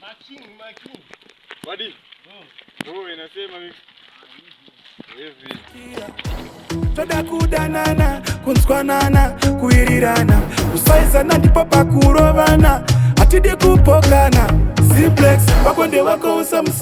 Making, making. Buddy. Oh. Oh, inasema mix. toda kudanana kunzwanana kuirirana kusaizana ndipo pakurovana hatidi kupokana ziplex wako ndewako usamus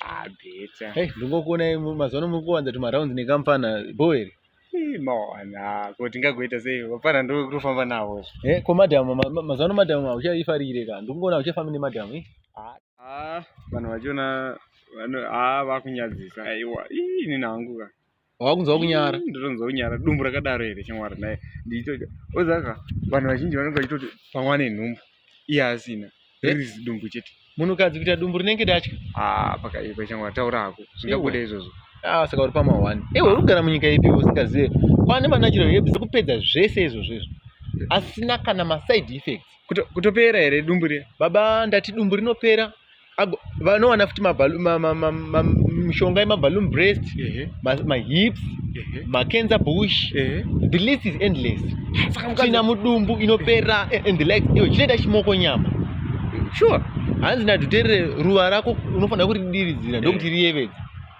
Ah, better. Hey, ndingokuona mazuva muri kuwanza tumarounds nekamfana bhoo here mawana ko tingagoita sei vapana ndokutofamba navo eh, ko madam mazuva ano madam hauchaifarire ka ndikungoona hauchafambi nemadam eh? ah, ah, vanhu vachiona ah, vakunyadzisa aiwa ini nangu ka wakunzwa kunyara ndotonzwa kunyara dumbu rakadaro here shamwari naye ndiitoti ozaka vanhu vazhinji vanenge vachitoti pamwe ane nhumbu iye asina ririzi eh? dumbu chete munhukadzi kuita dumbu rinenge datya ah, pakaipa shamwari taura hako zvingabuda izvozvo ah, saka uri pamahwani iwe uri kugara munyika ipi usingazive kwane manachiro hebs kupedza zvese izvozvo izvo asina kana maside effects kutopera here dumbu riya baba ndati dumbu rinopera vanowana futi mishonga yemaballoon breast mahips macancer bush the list is endless tsvina mudumbu inopera eh, and the likes iwe chinoita chimoko nyama sure hanzi nadhuterere ruva rako unofanira kuridiridzira ndokuti riyevedza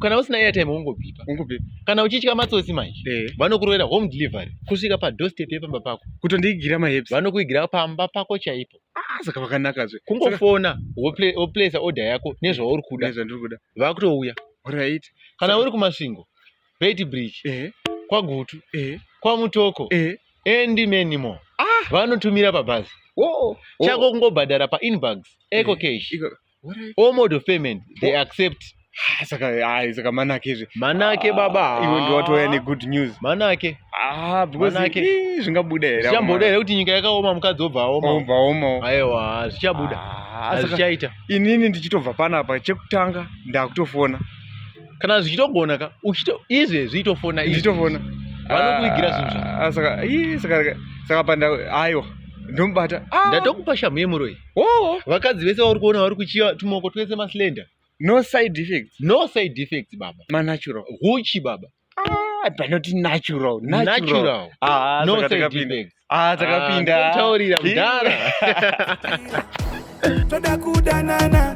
kana usina airtime wongobipa kana uchitya matsotsi manje eh. vanokurovera home delivery kusvika padoorstep yepamba pako kutondiigira maheps vanokuigira pamba pako chaipo ah, saka vakanaka zve kungofona woplace order yako nezvauri kuda nezvandiri kuda vakutouya right kana uri kumasvingo bait bridge eh. kwagutu eh. kwamutoko and many more ah. vanotumira pabhazi chako kungobhadhara painbugs eco cash all mode of payment they accept Ah, saka ah, saka manake izvi manake baba Ah, iwe ndiwatouya negood news manake ah because Manake. ii, zvingabuda here zvichamboda here kuti nyika yakaoma mukadzi obva aoma obva oma aiwa zvichabuda Ah, saka hazvichaita inini ndichitobva panapa chekutanga ndakutofona kana zvichitogona ka uchito izvezvi itofona izvi. ndichitofona Vanokuigira zvinhu zva- Ah, saka ii, saka saka panda aiwa ndomubata Ah, ndatokupa shamhu yemuroyi oh. vakadzi vese vauri kuona vari kuchiva tumoko twese maslender no side effects no side effects baba manatural huchi baba ah, panoti natural natural ah, no side effects ah takapinda ah, taurira mudhara toda kudanana